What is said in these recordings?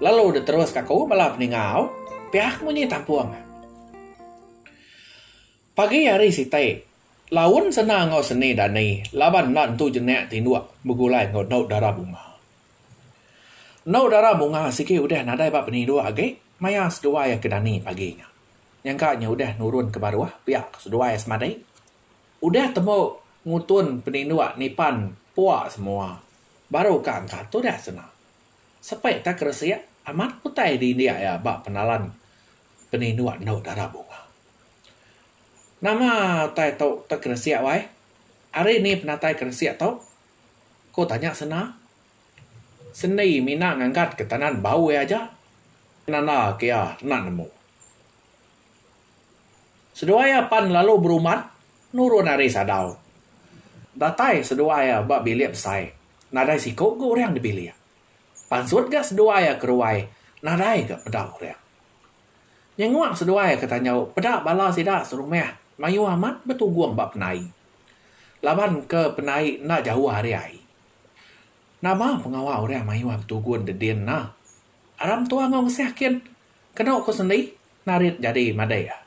Lalu deh terus ka aku bala peningau piak munyi tampung. Pagi hari siti, laun sena enggau seni dani laban enda entu jenak tinduk begulai enggau endu dara bunga. Endu dara bunga sigi udah nadai ba peninduk agi maya seduai iya ke dani pagi nya. Nyangka nya udah nurun ke baruh piak ke seduai iya semadi. Udah tembu ngutun peninduk nipan pua semua baru ka engka tudah sena. Sepai tak keresik amat ku utai di indik iya ba penalan penindu endu dara bunga. Nama utai tu tak keresik wai? Ari ni penatai keresik tu? ku tanya Sena. Sendi mina ngangkat ke tanan bau iya aja penanda ke iya enda nemu. Seduai iya pan lalu berumban nurun ari sadau. Datai seduai iya ba bilik besai Nadai siku ke orang dipilih. Pansut ga seduai iya ke ruai nadai ga peda orang. Nyenguk seduai iya ke tanjau peda bala sida serumah mayuh amat betugung ba penai. Laban ke penai enda jauh ari ai. Nama pengawa orang mayuh betugun de din ena? Ara mentua enggau ngesah kin kenu ku sendi narit jadi madai iya.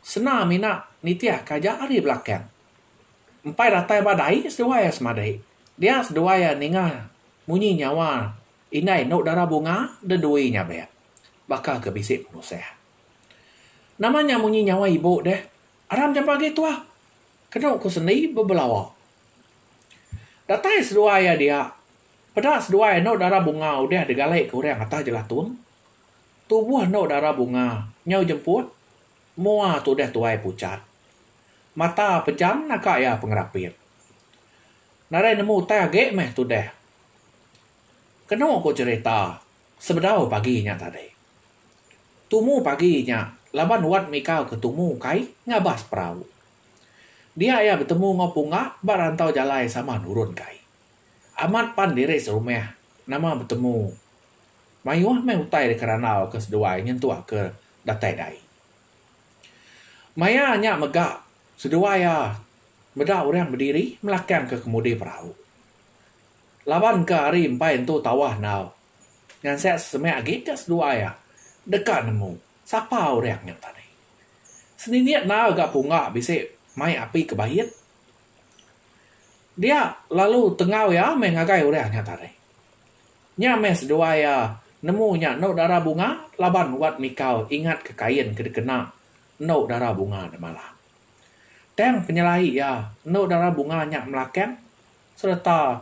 Sena mina nitihka aja ari belakang. Empai datai ba dai seduai iya semadi. Dia seduai iya ninga munyi nyawa indai endo dara bunga de dui nyabek baka ke bisi penusah. Nama nya munyi nyawa ibu deh aram jampa agi tuah kenu ku sendi bebelawa. Datai seduai iya dia peda seduai iya endo dara bunga udah digali ke orang atas jelatun tubuh endo dara bunga nyau jemput. Mua tudah tuai pucat. Mata pejam naga iya pengerapit. Nadai nemu utai agi meh tudah. Kenu ku cherita sebedau pagi nya tadi. Tumu pagi nya laban Wat Mika ke tumu kai ngabas perau. Dia iya betemu enggau Punga ba rantau jalai sama nurun kai. Amat pan diri serumah nama betemu. Mayuh meh utai deka randau ke seduai nyentuk ke datai dai. Maya nya mega seduai iya meda orang bediri melakang ke kemudi perau. Laban ke hari empai entu tawah enggau ngansek sesemak agi ke seduai iya deka nemu sapa orang nya tadi. Senindik enggau ga punga bisi mai api ke bait Dia lalu tengau iya meh ngagai orang nya tadi. Nya meh seduai iya nemu nya endo dara bunga laban wat mikau ingat ke kain ke dikena endo dara bunga nya malam. Tang penyelai iya endo dara bunga nya melakang sereta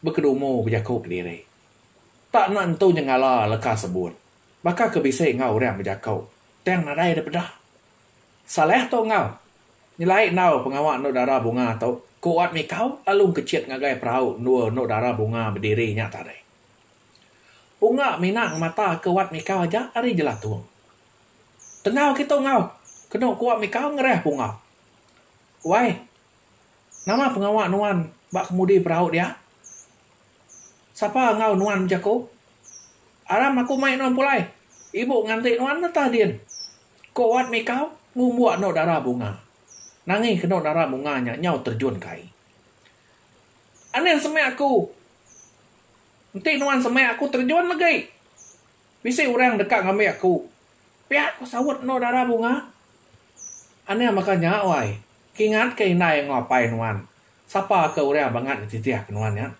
bekedumu bejaku kediri. Tak enda nentu nyengala leka sebut. Baka ke bisi enggau orang bejaku, tang nadai dipeda. Salah tu enggau. Nyelai endaw pengawa endu dara bunga tu, ku Wat Mikau lalu engkechit ngagai perau endur endu dara bunga bediri nya tadi. Unga mina ngemata ke Wat Mikau aja ari jelatung. Tenggau kitu enggau, kenu ku Wat Mikau ngerah Punga. Wai, nama pengawa nuan ba kemudi perau dia? Sapa enggau nuan bejaku? Aram aku mai nuan pulai. Ibu nganti nuan netah din. Ko Wat Mikau ngumbuk anu dara bunga. Nangih kenu dara bunga nya nyau terjun ke ai. Anih semeh aku. Enti nuan semeh aku terjun legi. Bisi orang deka ngambi aku. Pia ko saut anu dara bunga. Anih baka nya wai. Kingat ke indai enggau apai nuan. Sapa ke orang bangat ngetitih ke nuan nya?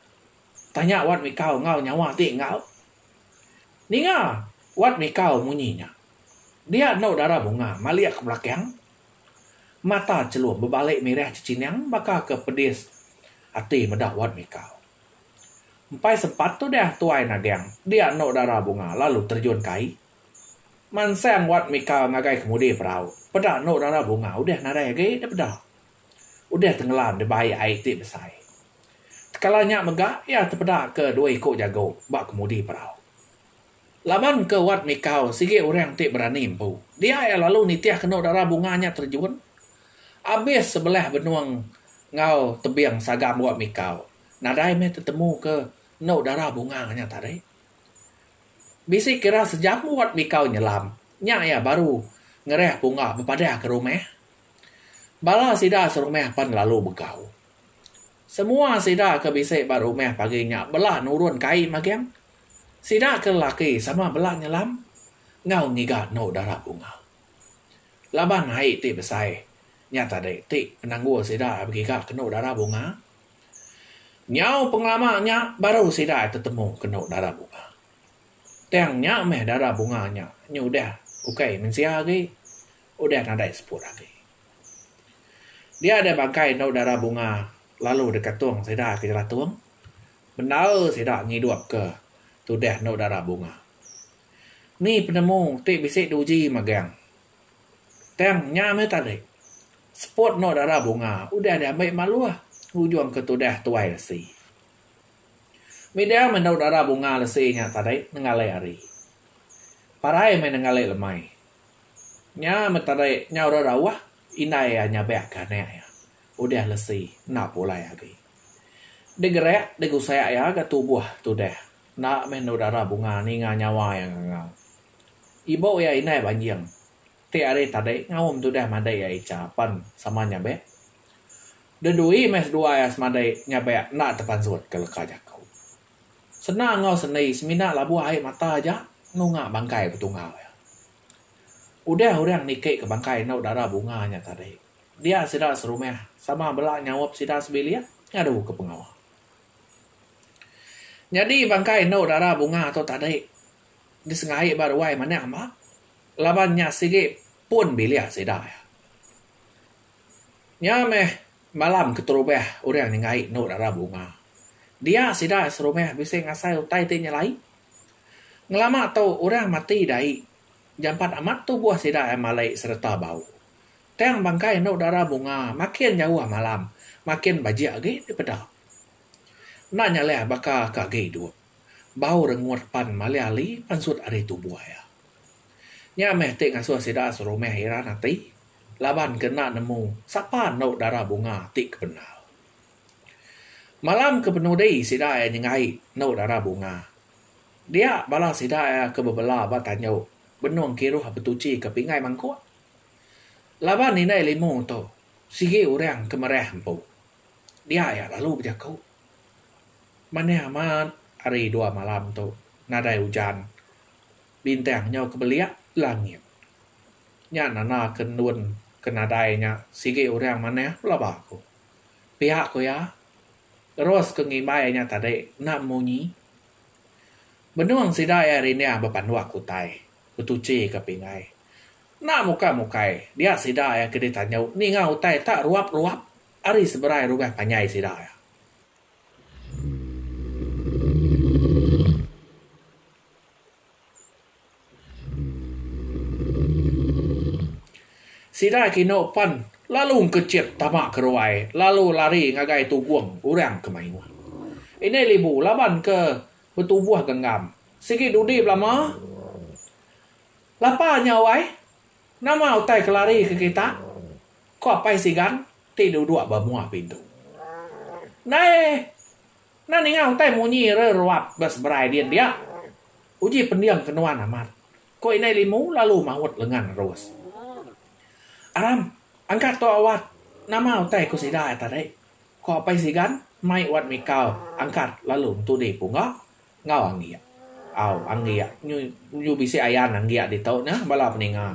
Tanya Wat Mikau enggau nyawa ati enggau. Ninga Wat Mikau munyi nya. Dia endo dara bunga malik ke belakang. Mata Chelum bebalik mirah chechinang baka ke pedis ati meda Wan Mikau. Empai sempat tudah tuai nagang dia endo dara bunga lalu terjun ke ai. Mansang Wan Mikau ngagai kemudi perau peda endo dara bunga udah nadai agi dipeda. Udah tengelam di bai ai ti besai. Tekala nya mega iya tepeda ke dua iku jago ba kemudi perau. Laban ke Wat Mikau sigi orang ti berani empu, dia iya lalu nitih kenu dara bunga nya terjun. Abis sebelah benung enggau tebing sagam Wat Mikau, nadai meh tetemu ke enu dara bunga nya tadi. Bisi kira sejam Wat Mikau nyelam, nya iya baru ngereh punga bepadah ke rumah. Bala sida serumah pan lalu begau. Semua sida ke bisi ba rumah pagi nya bela nurun kai magang. Sida ke lelaki sama bela nyelam enggau ngiga endu dara bunga. Laban ai ti besai nya tadi ti penanggul sida begiga ke endu dara bunga. Nyau pengelama nya baru sida tetemu ke endu dara bunga. Tang nya meh dara bunga nya nyudah ukai mensia agi udah nadai seput agi. Dia deh bangkai endu dara bunga lalu dikatung sida ke jelatung. Bendar sida ngidupka tudah endu dara bunga. Ni penemu ti bisi diuji magang. Tang nya meh tadi, seput endu dara bunga udah diambi Maluh ngujungka tudah Tuai Lesi. Midang meh endu dara bunga lesi nya tadi nenggali ari. Parai meh nenggali lemai. Nya meh tadi nyau rerauh Indai iya nyabak ke anak iya. Udah lesi, enda pulai agi. Degerak, degusak iya ga tubuh tudah. Enda meh endu dara bunga ninga nyawa iya ngangau. Ibu iya indai banjing. Ti hari tadi ngaum tudah madai iya icha pan sama nyabak. Dedui meh sedua iya semadai nyabak enda tepansut ke leka jaku. Sena enggau sendi semina labuh ai mata aja nunga bangkai betunggau iya. Udah orang niki ke bangkai endo dara bunga nya tadi, dia sida serumah sama bela nyaup sida sebilik ngadu ke pengawa. Nyadi bangkai endo dara bunga tu tadi disengai ba ruai manang bah laban nya sigi pun bilik sida iya. Nya meh malam keterubah orang nyengai endo dara bunga. Dia sida serumah bisi ngasai utai ti nyelai. Ngelama tu orang mati dai jampat amat tubuh sida ai malai sereta bau. Tang bangkai endo dara bunga makin jauh malam makin bajik agi dipeda. Enda nyalih baka ke agi duk bau rengut pan malih ali pansut ari tubuh iya. Nya meh ti ngasuh sida serumah iran ati laban ke enda nemu sapa endo dara bunga ti kependal. Malam ke penudi sida iya nyengai enu dara bunga. Dia bala sida iya ke bebela ba tanyu benung kiruh betuchi ke pingai mangkuk. Laban indai limu tu sigi orang ke merah empu. Dia iya lalu bejaku, Manah amat hari dua malam tu nadai ujan. Bintang nyau ke belia langit. Nya nanda ke endun ke nadai nya sigi orang manah pelaba ku. Pia ku iya, terus ku ngimbai inya tadi enda munyi. Benung sida iya rinding bepanduk utai, betuchika pingai. Enda mukai-mukai, dia sida iya ke ditanyu ninga utai tak ruap-ruap ari seberai rumah panjai sida iya. Sida kinu pen lalu engkechit tama ke ruai lalu lari ngagai tugung orang ke mayuh. Indai Libu laban ke betubuh genggam. Sigi dudi belama, Lapa nya wai, nama utai ke lari ke kita? ku Apai Sigan ti duduk ba mua pintu. Ndai Enda ninga utai munyi re ruap ba seberai din dia. Uji pendiam ke nuan amat, ko indai limu lalu maut lengan nerus. Aram, angkat tu awat, nama utai ko sida ai tadi? ko Apai Sigan mai wat mikau angkat lalu entudi pungga enggau anggiak. Au anggiak nyu bisi ayan anggiak ditu nya bala peninga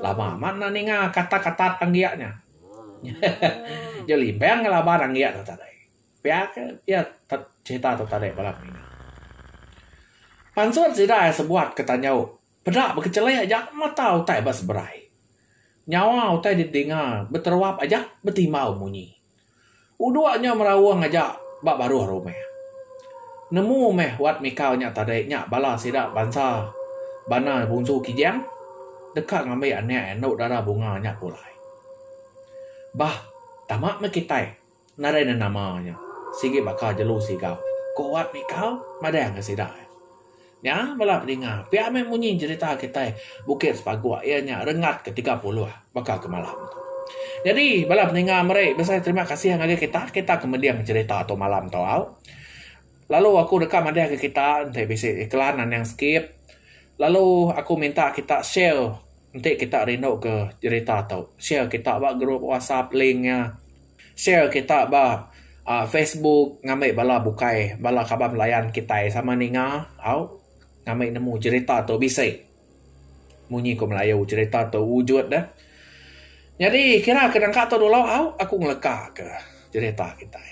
lama amat enda ninga katat-katat anggiak nya. Hehehe. Jelimbang laban anggiak tu tadi. Pia ke pia cerita tu tadi bala pengira. Pansut sida iya sebuat ke tanyau peda bekechelik aja mata utai ba seberai. Nyawa utai didinga beteruap aja betimbau munyi. Udok nya meraung aja ba baruh rumah. Nemu meh wat mikau nya tadi nya bala sida bansa bana bungsu Kijang deka ngambi anak iya enda dara bunga nya pulai. Bah tama meh kitai. Ngarai ne nama nya sigi baka jelu siga ku Wat Mikal madahka sida. Nya bala pedinga pia meh munyi jerita kitai Bukit Sepaguk iya nya Rengat ke tiga puluh baka ke malam tu. Nyadi bala pedinga meri besai terima kasih ngagai kita, kita ke mending jerita tu malam tu au. Lalu aku deka madahka kita enti bisi iklan anang sikit lalu aku minta kita share enti kita rinduka jerita tu. Share kita ba group whatsapp link nya. Share kita ba uhh facebook ngambi bala bukai bala kaban belayan kitai sama ninga au ngambi nemu jerita tu bisi munyi ku melayu jerita tu wujud deh. Nyadi kira ke nangka tu dulu au aku ngelekaka jerita kitai.